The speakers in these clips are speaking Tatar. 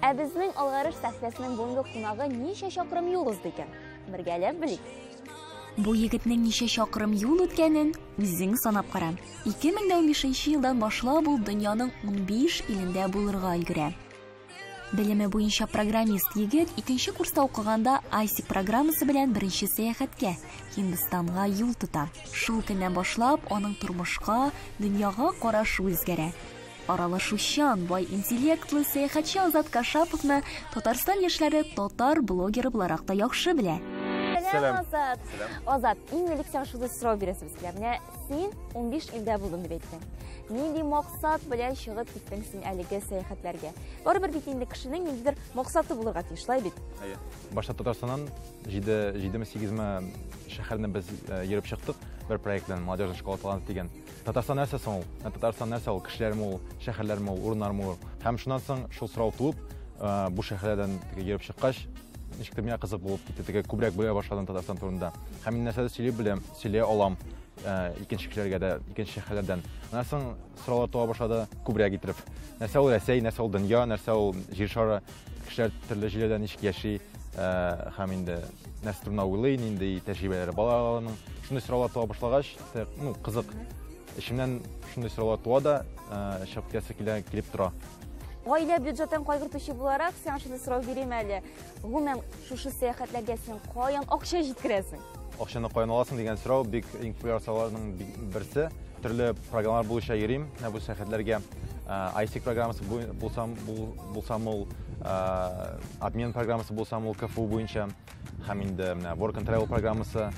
Ә безнең Алгарыш сәхнәсенең бүгенге кунагы ничә чакрым юл узды икән? Бергәләп белик. Бу егетнең ничә чакрым юл үткәнен үзең санап кара. 2015 елдан башлап ул дөньяның 15 илендә булырга өлгерә. Белеме буенча программист егет икенче курста укыганда IC программасы белән беренче сәяхәткә Һиндстанга юл тота. Шул көннән башлап аның тормышка, дөньяга карашы үзгәрә. Аралашучан, бай интеллектлы сәяхәтче Азат Кашаповны Татарстан яшьләре татар блогеры буларак та яхшы белә. Сәлам, Азат. Сәлам. Азат, иң элек сиңа шундый сорау бирәсебез килә. Менә син 15 илдә булдың дип әйттең. Нинди максат белән чыгып киттең син әлеге сәяхәтләргә? Барыбер бит инде кешенең ниндидер максаты булырга тиеш, шулай бит? Әйе. Башта Татарстаннан 7 ме 8 ме шәһәрне без э, йөреп чыктык бер проект белән Молодежная школа талант дигән. Татарстан нәрсә соң ул? Ә Татарстан нәрсә ул? Кешеләрме ул, шәһәрләрме ул, урыннармы ул? Һәм шуннан соң шул сорау туып, э, бу шәһәрләрдән теге йөреп чыккач, ничектер миңа кызык булып китте, теге күбрәк белә башладым Татарстан турында. Һәм мин нәрсәдер сөйли беләм, сөйли алам э, икенче кешеләргә дә, икенче шәһәрләрдән. Аннан соң сораулар туа башлады күбрәк итеп. Нәрсә ул Рәсәй, нәрсә ул дөнья, нәрсә ул җир шары? Кешеләр төрле җирдә ничек яши һәм инде нәрсә турында уйлый, нинди тәҗрибәләре бар аларның. Шундый сораулар туа башлагач, ну, кызык. Эчемнән шундый сораулар туа да, чыгып киясе килә, килеп тора. Гаилә бюджетын кайгыртучы буларак, сиңа шундый сорау бирим әле. Гомумән, Шушы сәяхәтләргә син каян акча җиткерәсең? Акчаны каян аласың дигән сорау бик иң популяр сорауларның берсе. Төрле программалар буенча йөрим ә, бу сәяхәтләргә. Ә, ISIC программасы булсам, булсам ул ә, обмен программасы булсам ул КФУ буенча һәм инде менә Work and Travel программасы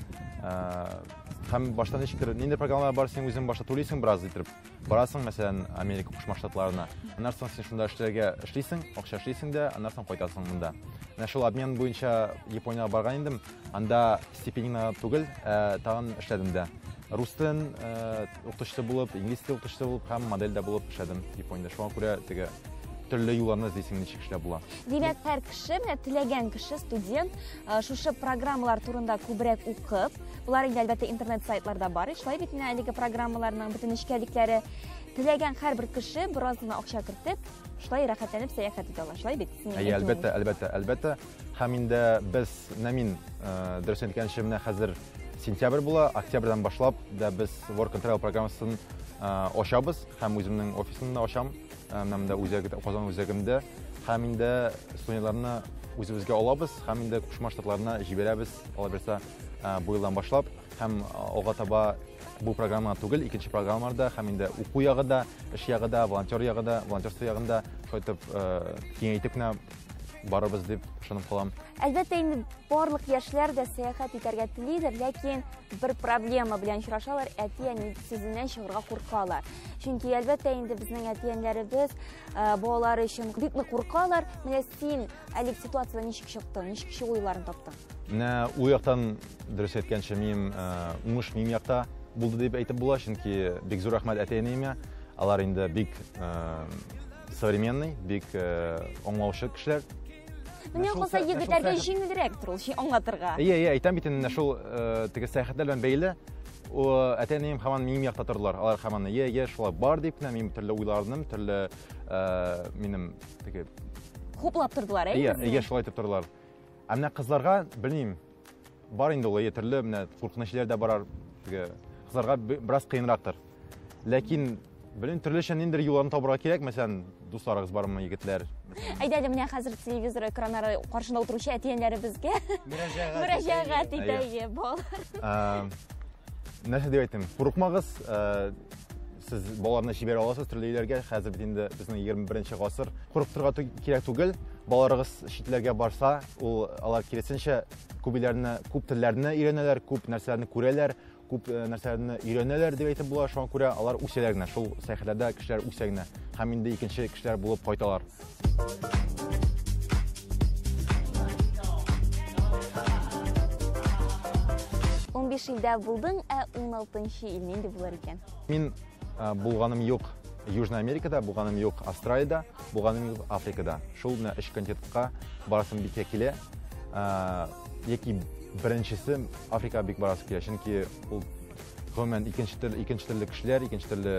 һәм башта ничектер нинди программалар бар син үзең башта түлисең бераз итеп барасың мәсәлән америка кушма штатларына аннан соң син шунда эшләргә эшлисең акча эшлисең дә аннан соң кайтасың монда менә шул обмен буенча япониягә барган идем анда стипендиңа түгел ә тагын эшләдем дә рус телен ә, укытучысы булып инглиз теле укытучысы булып һәм модель дә булып эшләдем япониядә шуңа күрә теге төрле юлларны эзлисең ничек эшләп була димәк һәр кеше менә теләгән кеше студент Э, шушы программалар турында күбрәк укып болар инде әлбәттә интернет сайтларда бар шулай бит менә әлеге программаларның бөтен нечкәлекләре теләгән һәрбер кеше бераз гына акча кертеп шулай рәхәтләнеп сәяхәт итә ала шулай бит әйе әлбәттә әлбәттә әлбәттә һәм инде без менә мин э, дөрес әйткәнчә менә хәзер сентябрь була октябрьдән башлап да без work and travel программасын э, ачабыз һәм үземнең офисымны да ачам Һәм дә үзәге Казан үзәгендә һәм инде студентларны үзебезгә алабыз һәм инде Кушма Штатларына җибәрәбез. Алаберса бу елдан башлап һәм алга таба бу программа түгел, икенче программаларда һәм инде уку ягы да, эш ягы да, волонтер ягы да, волонтерство ягында шайтып киңәйтеп кенә барыбыз дип ышанып калам. Әлбәттә инде барлык яшьләр дә сәяхәт итәргә телидер, ләкин бер проблема белән очрашалар, әти-әни сүзеннән чыгарга куркалар. Чөнки әлбәттә инде безнең әти-әниләребез э, балалары өчен бик нык куркалар. Менә син әлеге ситуацияне ничек чыктың, ничек чыгу юлларын таптың? Менә ул яктан дөрес әйткәнче минем э, уңыш минем якта булды дип әйтеп була, чөнки бик зур рәхмәт әти-әниемә. Алар инде бик э, современный, бик э, аңлаучы кешеләр. Менә калса егетләргә җиңелрәк тору ул аңлатырга. Әйе, әйе, әйтәм бит инде шул теге сәяхәтләр белән бәйле. О, әти-әнием һаман минем якта тордылар. Алар һаман, "Е, е, шулай бар" дип, мин төрле уйларным, төрле минем теге хуплап тордылар, әйе? Әйе, әйе, шулай итеп тордылар. Ә менә кызларга, белмим, бар инде ул ятерле, менә куркыныч җилләр дә барар. Теге кызларга бераз кыенрактыр. Ләкин белмим, төрлечә ниндер юлларын табарга кирәк, мәсәлән, дусларыгыз бармы, егетләр? Әйдә әле менә хәзер телевизор экраннары каршында утыручы әтиәннәребезгә мөрәҗәгать итәйе, балалар. Нәрсә дип әйтим? Курыкмагыз, сез балаларны җибәрә аласыз төрле илләргә хәзер бит инде безнең егерме беренче гасыр курыктырырга кирәк түгел балаларыгыз читләргә барса ул алар киресенчә күп илләрне күп телләрне өйрәнәләр күп нәрсәләрне күрәләр күп э, нәрсәләрне өйрәнәләр дип әйтеп була шуңа күрә алар үсәләр генә шул сәяхәтләрдә кешеләр үсә генә һәм инде икенче кешеләр булып кайталар Унбиш илдә булдың, ә уналтынчы ил нинди булыр икән? Мин э, булганым юк Южная Америкада, булганым юк Австралиядә, булганым юк Африкада. Шул менә өч континентка барасым бик килә. Э, яки беренчесе Африкага бик барасы килә, чөнки ул гомумән икенче төрле икенче төрле кешеләр, икенче төрле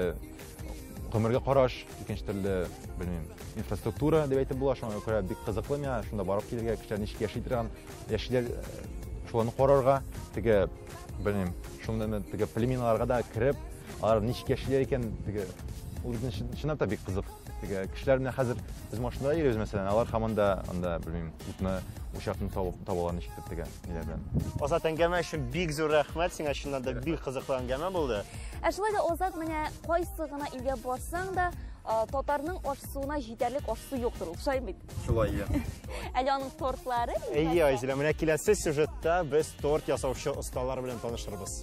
гомергә караш, икенче төрле, белмим, инфраструктура дип әйтеп була, шуңа күрә бик кызыклы миңа шунда барып килергә, кешеләр ничек яши торган, яшиләр, э, шуларны карарга, теге, белмим, шундый теге племеналарга да кереп, алар ничек яшиләр икән, теге ул безне чынлап та бик кызык. Теге кешеләр менә хәзер без машинада йөрибез, мәсәлән, алар һаман да анда, белмим, утны, учакны табалар ничектер теге ниләрдән. Азат әңгәмә өчен бик зур рәхмәт сиңа, чыннан да бик кызыклы әңгәмә булды. Ә шулай да Азат менә кайсы гына илгә барсаң да, татарның ашсуына җитәрлек ашсу юктыр ул, шулай бит? Шулай, иә. Әле аның тортлары? Әйе, Айзилә, менә киләсе сюжетта без торт ясаучы осталар белән танышырбыз.